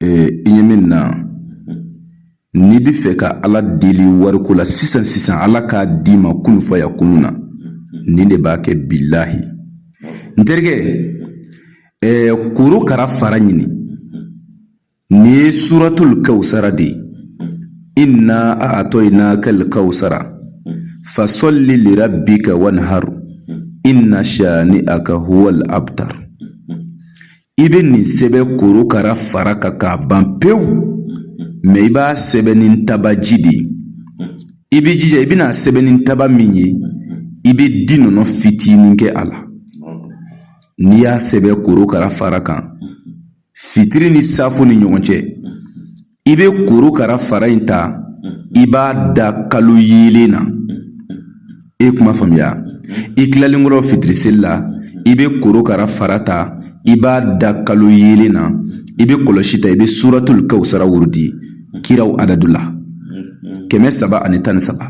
i ye min na n'i bɛ fɛ ka ala deli wariko la sisan sisan ala k'a d'i ma kun fayakunu na nin de b'a kɛ bilahi n terikɛ korokara fara ɲini nin ye suratul kawusara de ye inna a'tainakal kawusara fasalli lirabbika wanhar inna shani'aka huwal abtar i bɛ nin sɛbɛn korokara fara kan k'a ban pewu mɛ i b'a sɛbɛn ni tabaji de ye i b'i jija i bɛn'a sɛbɛn ni taba min ye i bɛ di nɔnɔ fitinin kɛ a la n'i y'a sɛbɛn korokara fara kan fitiri ni saafo ni ɲɔgɔn cɛ i bɛ korokara fara in ta i b'a da kalo yeelen na e kuma faamuya i tilalen kɔrɔ fitiri seli la i bɛ korokara fara ta i b'a da kalo yeelen na i bɛ kɔlɔsi ta i bɛ suratul kawusara wurudi kiraw adadu la kɛmɛ saba ani tan ni saba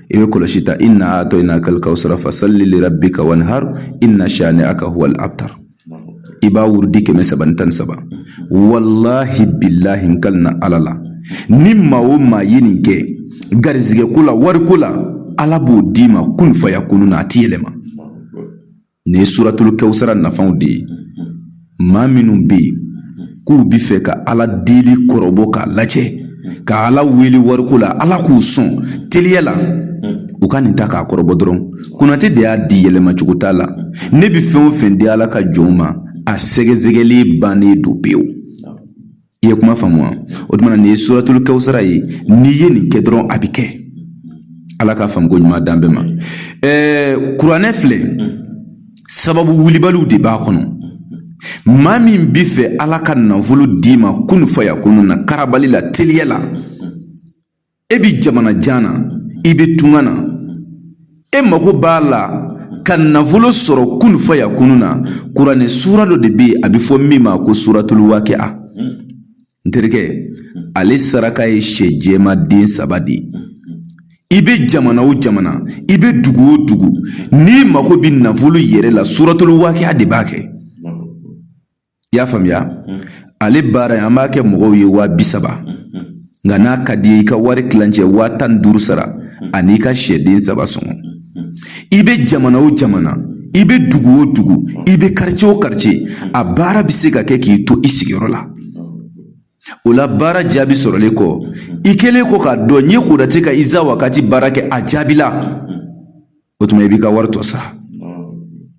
i bɛ kɔlɔsi ta inna a'tainakal kawusara fasalli lirabbika wanhar inna shani'aka huwal abtar i b'a wurudi kɛmɛ saba ni tan ni saba walahi bilahi n kalina ala la ni maa o maa ye nin kɛ garizigɛ ko la wariko la ala b'o d'i ma kun fayakunu na a ti yɛlɛma nin ye suratul kawusara nafanw de ye maa minnu bɛ yen k'u bi fɛ ka ala deli kɔrɔbɔ k'a lajɛ ka ala wele wariko la ala k'u sɔn teliya la u ka nin ta k'a kɔrɔbɔ dɔrɔn konatɛ de y'a di yɛlɛma cogo t'a la ne bɛ fɛn o fɛn di ala ka jɔnw ma a sɛgɛsɛgɛli bannen don pewu i ye kuma faamu wa o tuma nin ye suratul kawusara ye n'i ye nin kɛ dɔrɔn a bɛ kɛ ala ka faamuko ɲuman d'an bɛɛ ma ɛɛ kuranɛ filɛ sababu wulibaliw de b'a kɔnɔ maa min bɛ fɛ ala ka nafolo d'i ma kun fayakunu na karabali la teliya la e bi jamana jan na i bɛ tunga na e mago b'a la ka nafolo sɔrɔ kun fayakunu na kuranɛ suura dɔ de bɛ yen a bɛ fɔ min ma ko suratul waakiya n terikɛ ale saraka ye sɛ jɛman den saba de ye i bɛ jamana o jamana i bɛ dugu o dugu n'i mago bɛ nafolo yɛrɛ la suratul waakiya de b'a kɛ i y'a faamuya ale baara in an b'a kɛ mɔgɔw ye waa bi saba nka n'a ka di i ye i ka wari tilancɛ waa tan ni duuru sara an'i ka sɛden saba sɔngɔ i bɛ jamana o jamana i bɛ dugu o dugu i bɛ karice o karice a baara bɛ se ka kɛ k'i to i sigiyɔrɔ la o la baara jaabi sɔrɔlen kɔ i kɛlen kɔ k'a dɔn n'i ye konatɛ ka iza wakati baara kɛ a jaabila o tuma i b'i ka wari tɔ sara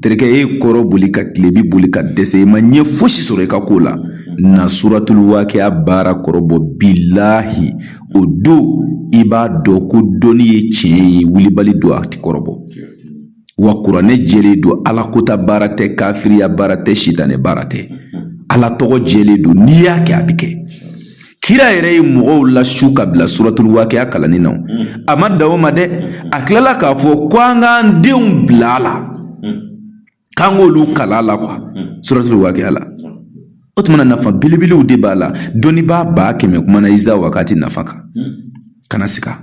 terikɛ e ye kɔrɔn boli ka tilebin boli ka dɛsɛ i ma ɲɛ fosi sɔrɔ i ka ko la na suratulu waakɛya baara kɔrɔbɔ bilahi o don i b'a dɔn ko dɔnni ye tiɲɛ ye wulibali don a ti kɔrɔbɔ wa kuranɛ jɛlen don ala kota baara tɛ kafiriya baara tɛ sitanɛ baara tɛ ala tɔgɔ jɛlen don n'i y'a kɛ a bɛ kɛ kira yɛrɛ ye mɔgɔw lasu ka bila suratul waqiya kalanni na a ma dan o ma dɛ a tilala k'a fɔ ko an k'an denw bila a la k'an k'olu kalan a la kuwa suratul waqiya la o tuma na nafa belebelew de b'a la dɔnnibaa ba kɛmɛ kumana iza wakati nafa kan kana siga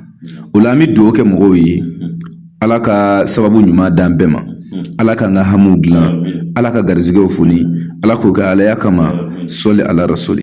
o la an bɛ dugawu kɛ mɔgɔw ye ala ka sababu ɲuman d'an bɛɛ ma ala k'an ka hamiw dilan ala ka garizigɛw foni ala k'o kɛ alaya kama sɔli ala rasuli